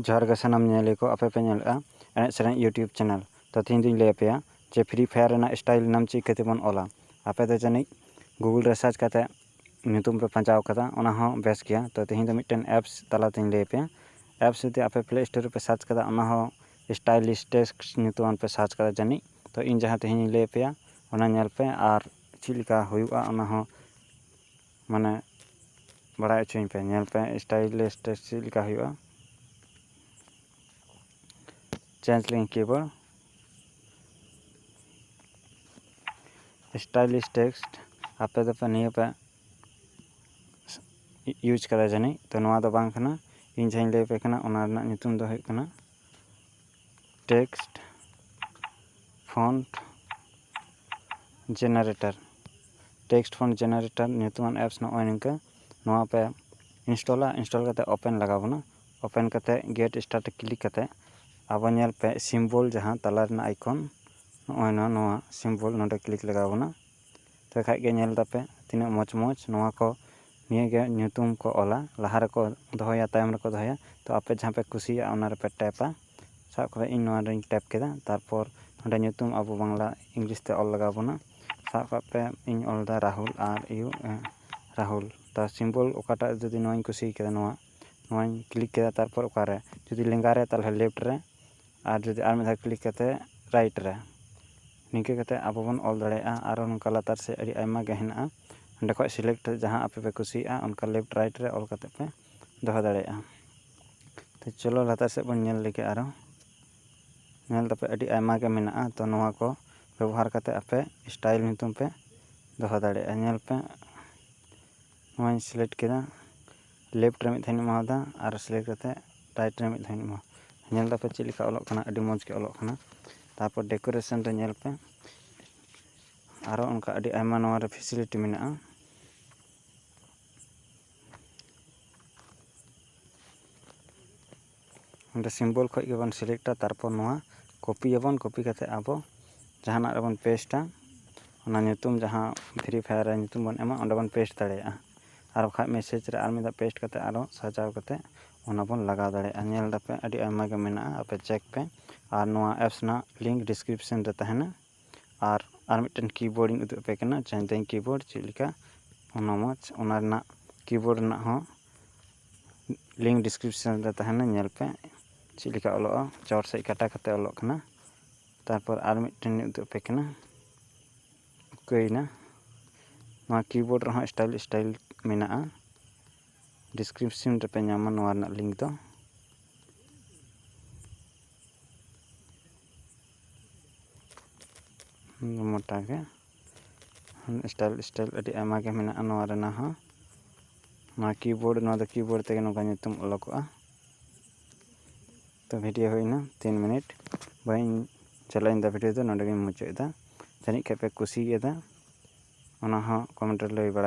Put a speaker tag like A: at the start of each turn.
A: ᱡᱚᱦᱟᱨ ᱜᱮ ᱥᱟᱱᱟᱢ ᱧᱮᱧᱮᱞᱤᱭᱟᱹ ᱠᱚ ᱟᱯᱮ ᱯᱮ ᱧᱮᱞ ᱮᱫᱼᱟ ᱮᱱᱮᱡ ᱥᱮᱨᱮᱧ ᱭᱩᱴᱭᱩᱵᱽ ᱪᱮᱱᱮᱞ ᱛᱚ ᱛᱮᱦᱮᱧ ᱫᱚᱧ ᱞᱟᱹᱭ ᱟᱯᱮᱭᱟ ᱡᱮ ᱯᱷᱨᱤ ᱯᱷᱟᱭᱟᱨ ᱨᱮᱱᱟᱜ ᱥᱴᱟᱭᱤᱞ ᱱᱟᱢ ᱪᱤᱠᱟᱹ ᱛᱮᱵᱚᱱ ᱚᱞᱟ ᱟᱯᱮ ᱫᱚ ᱡᱟᱹᱱᱤᱡ ᱜᱩᱜᱩᱞ ᱨᱮ ᱥᱟᱨᱪ ᱠᱟᱛᱮ ᱧᱩᱛᱩᱢ ᱯᱮ ᱯᱟᱸᱡᱟᱣ ᱠᱟᱫᱟ ᱚᱱᱟ ᱦᱚᱸ ᱵᱮᱥ ᱜᱮᱭᱟ ᱛᱚ ᱛᱮᱦᱮᱧ ᱫᱚ ᱢᱤᱫᱴᱮᱱ ᱮᱯᱥ ᱛᱟᱞᱟ ᱛᱮᱧ ᱞᱟᱹᱭ ᱟᱯᱮᱭᱟ ᱮᱯᱥ ᱡᱩᱫᱤ ᱟᱯᱮ ᱯᱞᱮ ᱥᱴᱳᱨ ᱨᱮᱯᱮ ᱥᱟᱨᱪ ᱠᱟᱫᱟ ᱚᱱᱟ ᱦᱚᱸ ᱥᱴᱟᱭᱤᱞᱤᱥ ᱴᱮᱠᱥ ᱧᱩᱛᱩᱢᱟᱱ ᱯᱮ ᱥᱟᱨᱪ ᱠᱟᱫᱟ ᱡᱟᱹᱱᱤᱡ ᱛᱚ ᱤᱧ ᱡᱟᱦᱟᱸ ᱛᱮᱦᱮᱧ ᱤᱧ ᱞᱟᱹᱭ ᱟᱯᱮᱭᱟ ᱚᱱᱟ ᱧᱮᱞ ᱯᱮ ᱟᱨ ᱪᱮᱫ ᱞᱮᱠᱟ ᱦᱩᱭᱩᱜᱼᱟ ᱚᱱᱟ ᱦᱚᱸ ᱢᱟᱱᱮ ᱵᱟᱲᱟᱭ ᱦᱚᱪᱚᱧ ᱯᱮ ᱧᱮᱞ ᱯᱮ ᱥᱴᱟᱭᱤᱞ ᱥᱴᱮᱡᱽ ᱪᱮᱫ ᱞᱮᱠᱟ ᱦᱩᱭᱩᱜᱼᱟ ᱪᱮᱧᱡᱽ ᱞᱤᱝ ᱠᱤᱵᱳᱨᱰ ᱥᱴᱟᱭᱤᱞᱤᱥ ᱴᱮᱠᱥᱴ ᱟᱯᱮ ᱫᱚᱯᱮ ᱱᱤᱭᱟᱹ ᱯᱮ ᱤᱭᱩᱡᱽ ᱠᱟᱫᱟ ᱡᱟᱹᱱᱤᱡ ᱛᱚ ᱱᱚᱣᱟ ᱫᱚ ᱵᱟᱝ ᱠᱟᱱᱟ ᱤᱧ ᱡᱟᱦᱟᱸᱧ ᱞᱟᱹᱭᱟᱯᱮ ᱠᱟᱱᱟ ᱚᱱᱟ ᱨᱮᱱᱟᱜ ᱧᱩᱛᱩᱢ ᱫᱚ ᱦᱩᱭᱩᱜ ᱠᱟᱱᱟ text font generator text font generator ᱧᱩᱛᱩᱢᱟᱱ ᱮᱯᱥ ᱱᱚᱜᱼᱚᱭ ᱱᱤᱝᱠᱟᱹ ᱱᱚᱣᱟ ᱯᱮ ᱤᱱᱥᱴᱚᱞᱟ ᱤᱱᱥᱴᱚᱞ ᱠᱟᱛᱮᱫ ᱳᱯᱮᱱ ᱞᱟᱜᱟᱣ ᱵᱚᱱᱟ ᱳᱯᱮᱱ ᱠᱟᱛᱮᱫ ᱜᱮᱴ ᱥᱴᱟᱨᱴ ᱨᱮ ᱠᱞᱤᱠ ᱠᱟᱛᱮᱫ ᱟᱵᱚ ᱧᱮᱞ ᱯᱮ ᱥᱤᱢᱵᱚᱞ ᱡᱟᱦᱟᱸ ᱛᱟᱞᱟ ᱨᱮᱱᱟᱜ ᱟᱭᱠᱚᱱ ᱱᱚᱜᱼᱚᱭ ᱱᱚᱣᱟ ᱱᱚᱣᱟ ᱥᱤᱢᱵᱚᱞ ᱱᱚᱰᱮ ᱠᱞᱤᱠ ᱞᱟᱜᱟᱣ ᱵᱚᱱᱟ ᱛᱚᱵᱮ ᱠᱷᱟᱡ ᱜᱮ ᱧᱮᱞ ᱛᱟᱯᱮ ᱛᱤᱱᱟᱹᱜ ᱢᱚᱡᱽ ᱢᱚᱡᱽ ᱱᱚᱣᱟ ᱠᱚ ᱱᱤᱭᱟᱹ ᱜᱮ ᱧᱩᱛᱩᱢ ᱠᱚ ᱚᱞᱟ ᱞᱟᱦᱟ ᱨᱮᱠᱚ ᱫᱚᱦᱚᱭᱟ ᱛᱟᱭᱚᱢ ᱨᱮᱠᱚ ᱫᱚᱦᱚᱭᱟ ᱛᱚ ᱟᱯᱮ ᱡᱟᱦᱟᱸ ᱯᱮ ᱠᱩᱥᱤᱭᱟᱜᱼᱟ ᱚᱱᱟ ᱨᱮᱯᱮ ᱴᱮᱯᱟ ᱥᱟᱵ ᱠᱟᱜ ᱢᱮ ᱤᱧ ᱱᱚᱣᱟ ᱨᱮᱧ ᱴᱮᱯ ᱠᱮᱫᱟ ᱛᱟᱨᱯᱚᱨ ᱚᱸᱰᱮ ᱧᱩᱛᱩᱢ ᱟᱵᱚ ᱵᱟᱝᱞᱟ ᱤᱝᱞᱤᱥ ᱛᱮ ᱚᱞ ᱞᱟᱜᱟᱣ ᱵᱚᱱᱟ ᱥᱟᱵ ᱠᱟᱜ ᱯᱮ ᱤᱧ ᱚᱞᱫᱟ ᱨᱟᱦᱩᱞ ᱟᱨ ᱤᱭᱩ ᱮ ᱨᱟᱦᱩᱞ ᱛᱟᱨ ᱥᱤᱢᱵᱚᱞ ᱚᱠᱟᱴᱟᱜ ᱡᱩᱫᱤ ᱱᱚᱣᱟᱧ ᱠᱩᱥᱤ ᱠᱟᱫᱟ ᱱᱚᱣᱟ ᱱᱚᱣᱟᱧ ᱠᱞᱤᱠ ᱠᱮᱫᱟ ᱛᱟᱨᱯᱚᱨ ᱚᱠᱟᱨᱮ ᱡᱩᱫᱤ ᱞᱮᱸᱜᱟ ᱨᱮ ᱛᱟᱦᱚᱞᱮ ᱞᱮᱯᱷᱴ ᱨᱮ ᱟᱨ ᱡᱩᱫᱤ ᱟᱨ ᱢᱤᱫ ᱫᱷᱟᱣ ᱠᱞᱤᱠ ᱠᱟᱛᱮ ᱨᱟᱭᱤᱴ ᱨᱮ ᱱᱤᱝᱠᱟᱹ ᱠᱟᱛᱮ ᱟᱵᱚ ᱵᱚᱱ ᱚᱞ ᱫᱟᱲᱮᱭᱟᱜᱼᱟ ᱟᱨᱚ ᱱᱚᱝᱠᱟ ᱞᱟᱛᱟᱨ ᱥᱮᱫ ᱟᱹᱰᱤ ᱟᱭᱢᱟ ᱜᱮ ᱦᱮᱱᱟᱜᱼᱟ ᱚᱸᱰᱮ ᱠᱷᱚᱡ ᱥᱤᱞᱮᱠᱴ ᱠᱟᱛᱮ ᱡᱟᱦᱟᱸ ᱟᱯᱮ ᱯᱮ ᱠᱩᱥᱤᱭᱟᱜᱼᱟ ᱚᱱᱠᱟ ᱞᱮᱯᱷᱴ ᱨᱟᱭᱤᱴ ᱨᱮ ᱚᱞ ᱠᱟᱛᱮ ᱯᱮ ᱫᱚᱦᱚ ᱫᱟᱲᱮᱭᱟᱜᱼᱟ ᱛᱚ ᱪᱚᱞᱚ ᱞᱟᱛᱟᱨ ᱥᱮᱫ ᱵᱚᱱ ᱧᱮᱞ ᱞᱮᱜᱮ ᱟᱨᱚ ᱧᱮᱞ ᱫᱟᱯᱮ ᱟᱹᱰᱤ ᱟᱭᱢᱟ ᱜᱮ ᱢᱮᱱᱟᱜᱼᱟ ᱛᱚ ᱱᱚᱣᱟ ᱠᱚ ᱵᱮᱵᱚᱦᱟᱨ ᱠᱟᱛᱮ ᱟᱯᱮ ᱥᱴᱟᱭᱤᱞ ᱧᱩᱛᱩᱢ ᱯᱮ ᱫᱚᱦᱚ ᱫᱟᱲᱮᱭᱟᱜᱼᱟ ᱧᱮᱞ ᱯᱮ ᱱᱚᱣᱟᱧ ᱥᱤᱞᱮᱠᱴ ᱠᱮᱫᱟ ᱞᱮᱯᱷᱴ ᱨᱮ ᱢᱤᱫ ᱫᱷᱟᱣ ᱤᱧ ᱮᱢᱟᱣ ᱟᱫᱟ ᱟᱨ ᱥᱤᱞᱮᱠᱴ ᱠᱟᱛᱮᱫ ᱨᱟᱭᱤᱴ ᱨᱮ ᱢᱤᱫ ᱫᱷᱟᱣ ᱤᱧ ᱮᱢᱟᱣ ᱟᱫᱟ ᱧᱮᱞ ᱫᱟᱯᱮ ᱪᱮᱫ ᱞᱮᱠᱟ ᱚᱞᱚᱜ ᱠᱟᱱᱟ ᱟᱹᱰᱤ ᱢᱚᱡᱽ ᱜᱮ ᱚᱞᱚᱜ ᱠᱟᱱᱟ ᱛᱟᱨᱯᱚᱨ ᱰᱮᱠᱳᱨᱮᱥᱮᱱ ᱨᱮ ᱧᱮᱞ ᱯᱮ ᱟᱨᱚ ᱚᱱᱠᱟ ᱟᱹᱰᱤ ᱟᱭᱢᱟ ᱱᱚᱣᱟᱨᱮ ᱯᱷᱮᱥᱮᱞᱤᱴᱤ ᱢᱮᱱᱟᱜᱼᱟ ᱚᱸᱰᱮ ᱥᱤᱢᱵᱚᱞ ᱠᱷᱚᱡ ᱜᱮᱵᱚᱱ ᱥᱤᱞᱮᱠᱴᱟ ᱛᱟᱨᱯᱚᱨ ᱱᱚᱣᱟ ᱠᱚᱯᱤᱭᱟᱵᱚᱱ ᱠᱚᱯᱤ ᱠᱟᱛᱮ ᱟᱵᱚ ᱡᱟᱦᱟᱱᱟᱜ ᱨᱮᱵᱚᱱ ᱯᱮᱥᱴᱟ ᱚᱱᱟ ᱧᱩᱛᱩᱢ ᱡᱟᱦᱟᱸ ᱯᱷᱨᱤ ᱯᱷᱟᱭᱟᱨ ᱨᱮ ᱧᱩᱛᱩᱢ ᱵᱚᱱ ᱮᱢᱟ ᱚᱸᱰᱮ ᱵᱚᱱ ᱯᱮᱥᱴ ᱫᱟᱲᱮᱭᱟᱜᱼᱟ ᱟᱨ ᱵᱟᱠᱷᱟᱡ ᱢᱮᱥᱮᱡᱽ ᱨᱮ ᱟᱨ ᱢᱤᱫ ᱫᱷᱟᱣ ᱯᱮᱥᱴ ᱠᱟᱛᱮ ᱟᱨᱚ ᱥᱟᱡᱟᱣ ᱠᱟᱛᱮ ᱚᱱᱟ ᱵᱚᱱ ᱞᱟᱜᱟᱣ ᱫᱟᱲᱮᱭᱟᱜᱼᱟ ᱧᱮᱞ ᱫᱟᱯᱮ ᱟᱹᱰᱤ ᱟᱭᱢᱟ ᱜᱮ ᱢᱮᱱᱟᱜᱼᱟ ᱟᱯᱮ ᱪᱮᱠ ᱯᱮ ᱟᱨ ᱱᱚᱣᱟ ᱮᱯᱥ ᱨᱮᱱᱟᱜ ᱞᱤᱝᱠ ᱰᱤᱥᱠᱨᱤᱯᱥᱮᱱ ᱨᱮ ᱛᱟᱦᱮᱱᱟ ᱟᱨ ᱟᱨ ᱢᱤᱫᱴᱮᱱ ᱠᱤᱵᱳᱨᱰ ᱤᱧ ᱩᱫᱩᱜ ᱟᱯᱮ ᱠᱟᱱᱟ ᱪᱮᱱᱫᱮᱧ ᱠᱤᱵᱳᱨᱰ ᱪᱮᱫ ᱞᱮᱠᱟ ᱚᱱᱟ ᱢᱚᱡᱽ ᱚᱱᱟ ᱨᱮᱱᱟᱜ ᱠᱤᱵᱳᱨᱰ ᱨᱮᱱᱟᱜ ᱦᱚᱸ ᱞᱤᱝᱠ ᱰᱤᱥᱠᱨᱤᱯᱥᱚᱱ ᱨᱮ ᱛᱟᱦᱮᱱᱟ ᱧᱮᱞ ᱯᱮ ᱪᱮᱫ ᱞᱮᱠᱟ ᱚᱞᱚᱜᱼᱟ ᱪᱚᱴ ᱥᱮᱫ ᱠᱟᱴᱟ ᱠᱟᱛᱮ ᱚᱞᱚᱜ ᱠᱟᱱᱟ ᱛᱟᱨᱯᱚᱨ ᱟᱨ ᱢᱤᱫᱴᱮᱱ ᱤᱧ ᱩᱫᱩᱜ ᱟᱯᱮ ᱠᱟᱱᱟ ᱩᱠᱟᱹᱭᱮᱱᱟ ᱱᱚᱣᱟ ᱠᱤᱵᱳᱨᱰ ᱨᱮᱦᱚᱸ ᱥᱴᱟᱭᱤᱞ ᱥᱴᱟᱭᱤᱞ ᱢᱮᱱᱟᱜᱼᱟ ᱰᱤᱥᱠᱨᱤᱯᱥᱚᱱ ᱨᱮᱯᱮ ᱧᱟᱢᱟ ᱱᱚᱣᱟ ᱨᱮᱱᱟᱜ ᱞᱤᱝᱠ ᱫᱚ ᱢᱚᱴᱟᱜᱮ ᱥᱴᱟᱭᱤᱞ ᱥᱴᱟᱭᱤᱞ ᱟᱹᱰᱤ ᱟᱭᱢᱟ ᱜᱮ ᱢᱮᱱᱟᱜᱼᱟ ᱱᱚᱣᱟ ᱨᱮᱱᱟᱜ ᱦᱚᱸ ᱱᱚᱣᱟ ᱠᱤᱵᱳᱨᱰ ᱱᱚᱣᱟ ᱫᱚ ᱠᱤᱵᱳᱨᱰ ᱛᱮᱜᱮ ᱱᱚᱝᱠᱟ ᱧᱩᱛᱩᱢ ᱚᱞᱚᱠᱚᱜᱼᱟ ᱛᱚ ᱵᱷᱤᱰᱤᱭᱳ ᱦᱩᱭᱱᱟ ᱛᱤᱱ ᱢᱤᱱᱤᱴ ᱵᱟᱹᱧ ᱪᱟᱞᱟᱜᱼᱟ ᱤᱧᱫᱚ ᱵᱷᱤᱰᱤᱭᱳ ᱫᱚ ᱱᱚᱰᱮᱜᱤᱧ ᱢᱩᱪᱟᱹᱫ ᱮᱫᱟ ᱡᱟᱹᱱᱤᱡ ᱠᱷᱟᱱ ᱯᱮ ᱠᱩᱥᱤᱭᱟᱫᱟ ᱚᱱᱟ ᱦᱚᱸ ᱠᱚᱢᱮᱱᱴ ᱨᱮ ᱞᱟᱹᱭ ᱵᱟᱲᱟᱭ ᱯᱮ